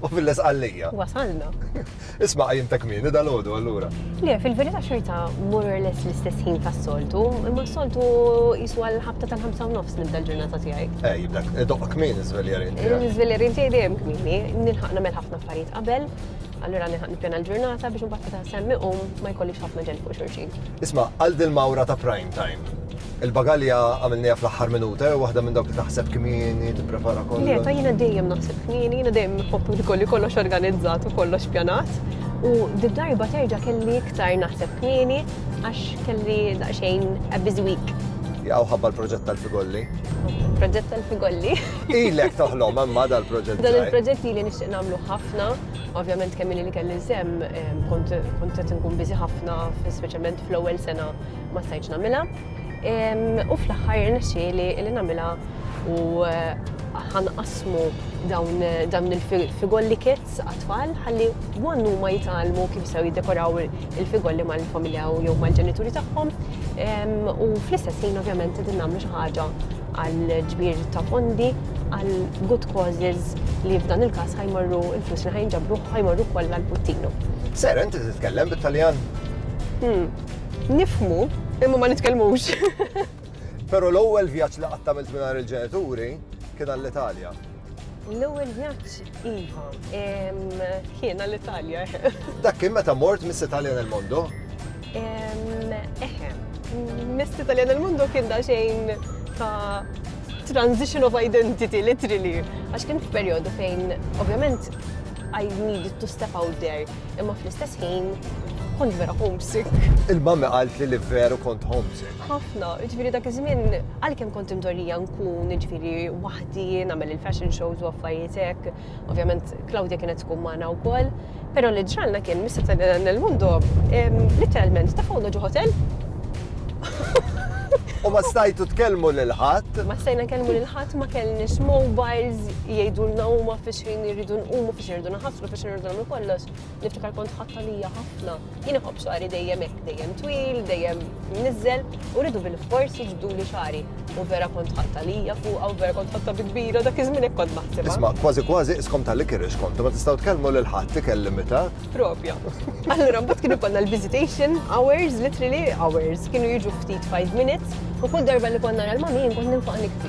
U fil-Isqallija. Wasalna. Isma' qajjimtek kmieni dal-għodu allura. Le, fil-verità xorta more or less l-istess ħin tas-soltu, imma s-soltu jisu għal ħabta tal-ħamsa u nofs nibda l-ġurnata tiegħi. Eh, jibdak, doqqa kmieni żveljarin tiegħi. Eh, żveljarin tiegħi dejjem kmieni, nilħaq nagħmel ħafna affarijiet qabel, allura nilħaq nippjana l-ġurnata biex mbagħad ta' semmi u ma jkollix ħafna ġen fuq xurxin. Isma' għal dil-mawra ta' prime time. Il-bagalja għamilniha fl-aħħar minuta, jew waħda minn dawk li taħseb kmieni, tipprepara kollox? Le, ta' jiena dejjem naħseb kmieni, jiena dejjem nħobb li kolli kollox organizzat u kollox pjanat. U did darba terġa' kelli iktar naħseb kmieni għax kelli daqsxejn a busy week. Jaqgħu ħabba l-proġett tal-figolli. Proġett tal-figolli. Ilek toħlom imma dal-proġett. Dan il-proġett li nixtieq nagħmlu ħafna, ovvjament kemm li kelli sem kont qed nkun biżi ħafna, speċjalment fl-ewwel sena ma stajtx nagħmilha. U fl-aħħar irnexxieli li nagħmilha u ħanqasmu dawn dan il-figolli kits għat-tfal ħalli għannu ma jitalmu kif sew jiddekoraw il-figolli mal-familja u jew mal-ġenituri tagħhom. U fl-istess ħin ovvjament qed nagħmlu xi ħaġa għal ġbir ta' fondi għal good causes li f'dan il-każ ħajmorru il-flus li ħajnġabru ħajmorru kollha l-puttinu. Sera, inti titkellem bit-Taljan? Hmm. Nifhmu, imma ma nitkellmux. Però l-ewwel vjaġġ li qatt għamilt mingħajr il-ġenituri kien għall-Italja. L-ewwel vjaġġ iva, kien għall-Italja. Dak kien meta mort Miss Italian il Mondo? Eħe, Miss Italian il Mondo kien da xejn ta' transition of identity, literally. Għax kien f'perjodu fejn, ovvjament, I needed to step out there. imma fl-istess ħin kont vera homesick. Il-mamma qalt li li veru kont homesick. Ħafna, ġviri dak iż-żmien għalkemm kont imdorrija nkun ġviri waħdi nagħmel il-fashion shows u affarijiet hekk. Ovvjament Claudia kienet tkun magħna wkoll, però li ġralna kien mista ta' nel mundo literalment ta' fawna ġo hotel. U ma stajtu tkellmu lil ħadd? Ma stajna tkellmu lil ħadd ma kellniex mobiles jgħidulna huma fiex ħin irridu nqumu X'irdu naħaslu biex nirdu nagħmlu kollox, niftakar kont ħadd għalija ħafna. Jien iħobb xari dejjem hekk, dejjem twil, dejjem niżel, u rridu bil-fors jiġdu li xari. U vera kont ħadd għalija fuqha u vera kont ħatta bi kbira dak iż-żmien hekk kont naħseb. Isma' kważi kważi iskom tal kirix kontu ma tistgħu tkellmu lil ħadd ikel limitat. Propja. Allura mbagħad kien ikollna l-visitation hours, literally hours, kienu jiġu ftit 5 minutes u kull darba li konna nara l-mami jien kont ninfaq nikti.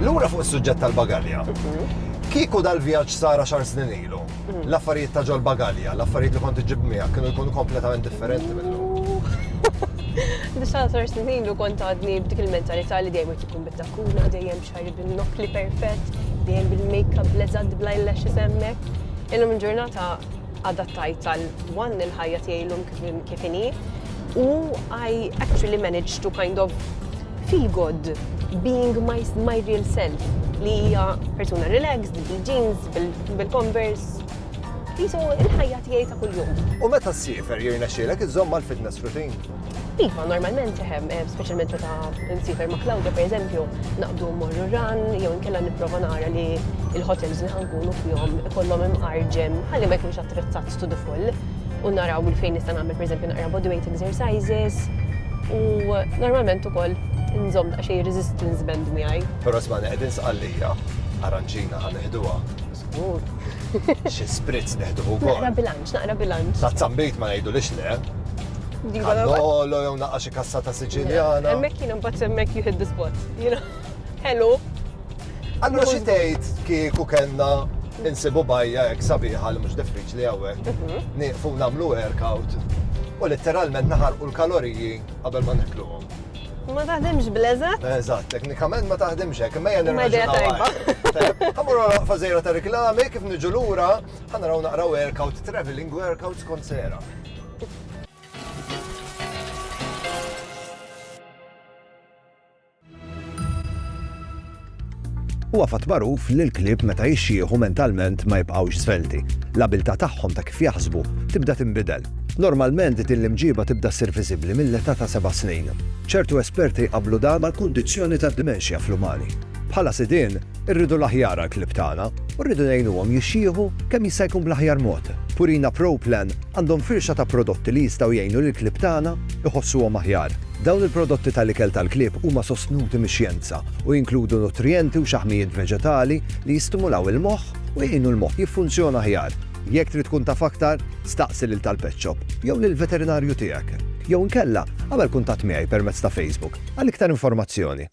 Lura fuq is-suġġett tal-bagalja. Kieku dal-vjaġġ sara xar snin ilu, l-affarijiet ta' ġol bagalja, l-affarijiet li kont iġib miegħek kienu jkunu kompletament differenti minnhom. Nisal sar snin ilu kont għadni b'dik il-mentalità li dejjem qed ikun bit-takkuna, dejjem xari bil-nokli perfett, dejjem bil-makeup bleżad bl-eyelashes hemmhekk. Illum il-ġurnata adattajt għal one il-ħajja tiegħi llum kif inhi, U I actually managed to kind of feel good being my, my real self li hija persuna relaxed, bil-jeans, bil-converse. Jisu il-ħajja tiegħi ta' kuljum. U meta s-sifer jirna xilek iżomm mal-fitness routine? Iva, normalment seħem, eh, specialment meta nsifer ma' Claudia, per eżempju, naqdu morru ran, jew nkella niprofa nara li il-hotels li ħankunu fjom kollom imqarġem, ħalli ma jkunx attrezzat to the full. u naraw minn fejn nista' nagħmel pereżempju naqra body weight exercises u normalment ukoll nżomm ta' xejn resistance band miegħi. Però smani qegħdin sqallija, aranċina ħan neħduha. Żgur. Xi spritz neħduh ukoll. Naqra bilanċ, naqra bilanċ. Ta' zambit ma ngħidu lix le. Nolo jew naqqa xi kassa ta' Siċiljana. Hemmhekk jiena mbagħad hemmhekk you hit the spot. Hello. Allura xi tgħid kieku kellna insibu bajja hekk sabiħa li mhux diffiċli hawnhekk. Mhm. Nieqfu nagħmlu workout u letteralment naħarqu l-kaloriji qabel ma nikluhom. Ma taħdimx bleżat? Eżatt, teknikament ma taħdimx hekk, imma jgħan nirraġunaw. Għamur għara fażejra ta' reklami, kif niġu lura, ħanaraw naqra workout, traveling workout skont sera. Huwa fatt magħruf li l-klieb meta jixjieħu mentalment ma jibqgħux żvelti. L-abiltà tagħhom ta' kif jaħsbu tibda tinbidel. Normalment din l-imġiba tibda ssir viżibbli mill-età ta' seba' snin. Ċertu esperti jqabblu dan mal-kundizzjoni tad-dimenxja fl-umani. Bħala sidien, Irridu l-aħjar għall-klieb tagħna u rridu ngħinuhom jixjieħu kemm jista' jkun bl-aħjar mod. Purina Pro Plan għandhom firxa ta' prodotti li jistgħu jgħinu lill-klieb tagħna jħossuhom aħjar. Dawn il-prodotti tal-ikel tal-klieb huma sostnuti mix-xjenza u jinkludu nutrijenti u xaħmijiet veġetali li jistimulaw il-moħħ u jgħinu l-moħħ jiffunzjona aħjar. Jekk trid tkun taf aktar, staqsi lil tal-pet shop jew lill-veterinarju tiegħek. Jew inkella, agħmel kuntatt miegħi permezz ta' Facebook għal iktar informazzjoni.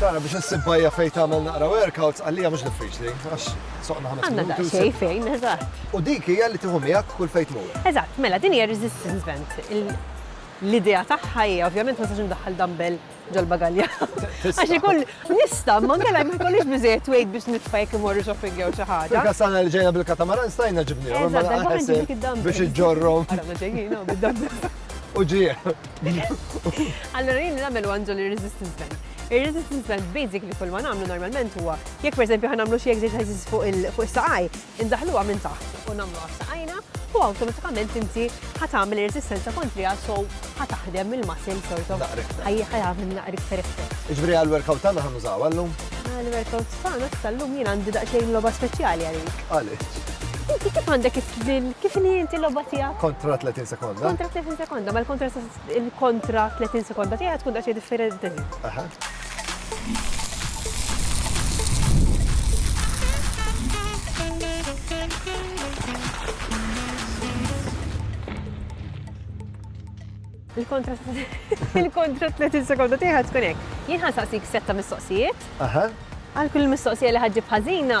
Tara biex issib bajja fejn tagħmel naqra workouts għalija mhux diffiċli għax soqna ħames Għandna minuti. u daqsxejn ssib- fejn, eżatt. U dik hija li tieħu miegħek kull fejn tmur. Eżatt, mela din hija resistance band. Il- L-idea tagħha hija ovvjament ma sax indaħħal dumbbell ġol-bagalja. Għax ikun nista' ma nkella ma jkollix biżejjed wejt biex nitfa' jekk imorru shopping jew xi ħaġa. Fil-kastana li ġejna bil-katamaran stajna ġibnihom biex iġġorrhom. U ġie. Allura jien nagħmel għandu l-resistance band. Ir-resistance band basically kull ma nagħmlu normalment huwa jekk pereżempju ħa nagħmlu xi exercises fuq is-saqaj, Indaħħluha minn taħt u nagħmluha b'saqajna u awtomatikament inti ħa tagħmel ir-reżistenza kontriha so ħa taħdem il-muscle sort of. Ħa jagħmel naqra iktar effett. Jiġifieri għall-workout tagħna ħa nużawha llum? Għall-workout tagħna issa llum jien għandi daqsxejn logħba speċjali għalik. Għaliex? Inti kif għandek kif inhi inti l-logħba tiegħek? Kontra 30 sekonda. Kontra 30 sekonda, mela kontra Il-kontra 30 sekonda tiegħi tkun daqsxejn differenti. Il-kontra il-kontra 30 sekonda tiegħi tkun hekk. Jien ħansaqsik setta mistoqsijiet. Aha. Għal kull mistoqsija li ħaġġib ħażina,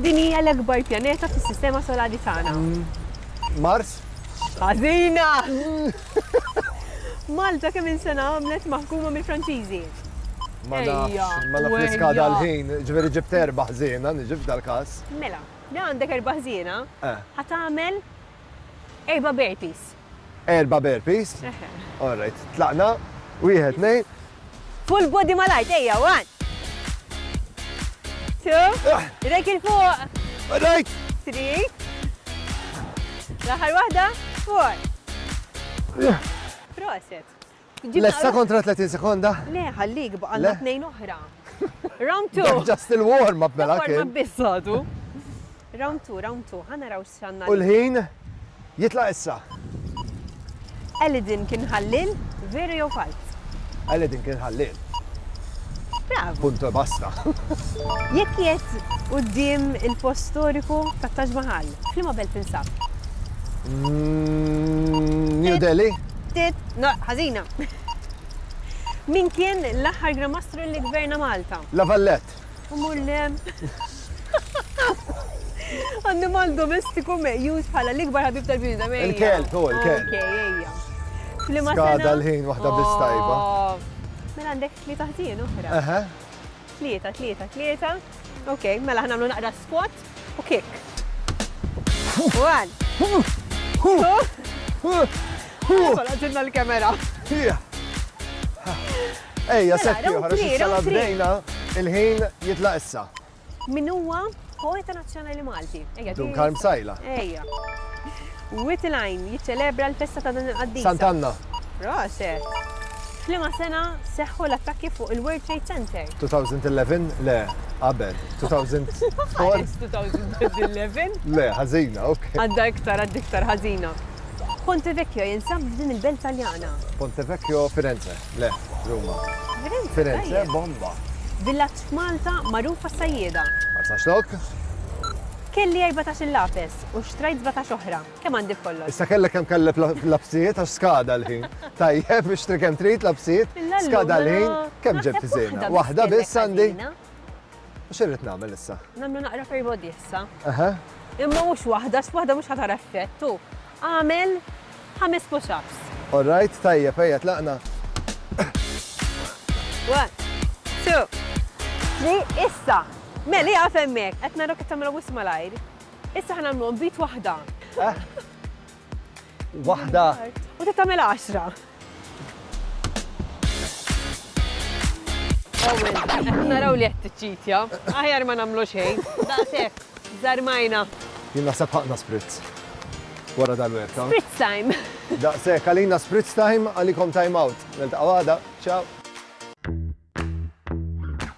Din hija l-akbar pjaneta fis-Sistema Solari tagħna. Mars? Ħażina! Malta kemm insena għamlet maħkuma mill-Franċiżi? Ma nafx, ma nafx niska dal-ħin, ġveri ġibt erba ħżiena, nġib dal-kas. Mela, li għandek erba ħżiena, eh. ħat għamel erba bertis. Erba' burpees? Eħe. All right. Tlaqna. Wieħed, tnejn. Full body malajr, ejja, one. Two. Ah. Idejk il fuq. All right. Three. L-aħħar waħda, four. Proset. Lessa kontra 30 sekonda? Le, ħallik baqalna tnejn oħra. Round 2. Just il-warm up mela kien. Warm up biss għadu. Round 2, round 2, ħana raw xanna. U l-ħin jitla issa. Elidin kien ħallil, veru jew falz? Elidin kien ħallil. Bravu! Punt e basta. Jekk qiegħed quddiem il-post storiku tat-Taj Mahal, f'liema belt tinsab? New Delhi? Tit, no, ħażina. Min kien l-aħħar Gran Mastru li gverna Malta? La Valette. Imur lem. Annimal domestiku meqjus bħala l-ikbar ħabib tal-bnidem. Il-kelb, u l-kelb. Skada l-ħin waħda bistajba. Mela għandek li taħtien uħra. Tlieta, tlieta, tlieta. Ok, mela ħnamlu naqra spot. u kick. One. Għadinna l-kamera. Ejja, sekki, ħarġ il-sala bdejna, il-ħin jitlaq issa. Min huwa poeta nazzjonali Malti? Dun Karm Sajla. Ejja. Wied il-Għajn jiċċelebra l-festa ta' din il-qaddisa. Sant Anna. Proset! F'liema sena seħħu l-attakki fuq il-World Trade Center? 2011? Le, qabel. 2004? Għaliex 2011? Le, ħażina, ok. Għadda iktar, għadda iktar ħażina. Ponte Vecchio jinsab f'din il-belt Taljana? Ponte Vecchio Firenze, le, Ruma. Firenze? Firenze, bomba. Villaġġ f'Malta magħruf għas-sajjieda. Marsaxlok? Kelli 14 il-lapes. biljett u xtrajt sbatax oħra. Kemm għandi b'kollox? Issa kellek kemm kellek lapsijiet għax skada l-ħin. Tajjeb, ixtri kemm trid lapsijiet, skada l-ħin, kemm ġibt żejna? Waħda biss għandi. U xirrid nagħmel issa? Nagħmlu naqra perbodi issa. Aha. Imma mhux waħda, x'waħda mhux ħatar effett u għamel ħames push-ups. All right, tajjeb, ejja tlaqna. One, two, three, issa. Meli għafemmek, qed narok qed tagħmel wisma lajr. Issa ħa nagħmluhom bit waħda. Eh? Waħda. U se tagħmel għaxra. Naraw li qed tiċċitja. Aħjar ma nagħmlu xejn. Daqshekk, żarmajna. Jien naħseb ħaqna spritz. Wara dal-werka. Spritz time. Daqshekk għalina spritz time għalikom time out. Niltaqgħu għada. Ciao.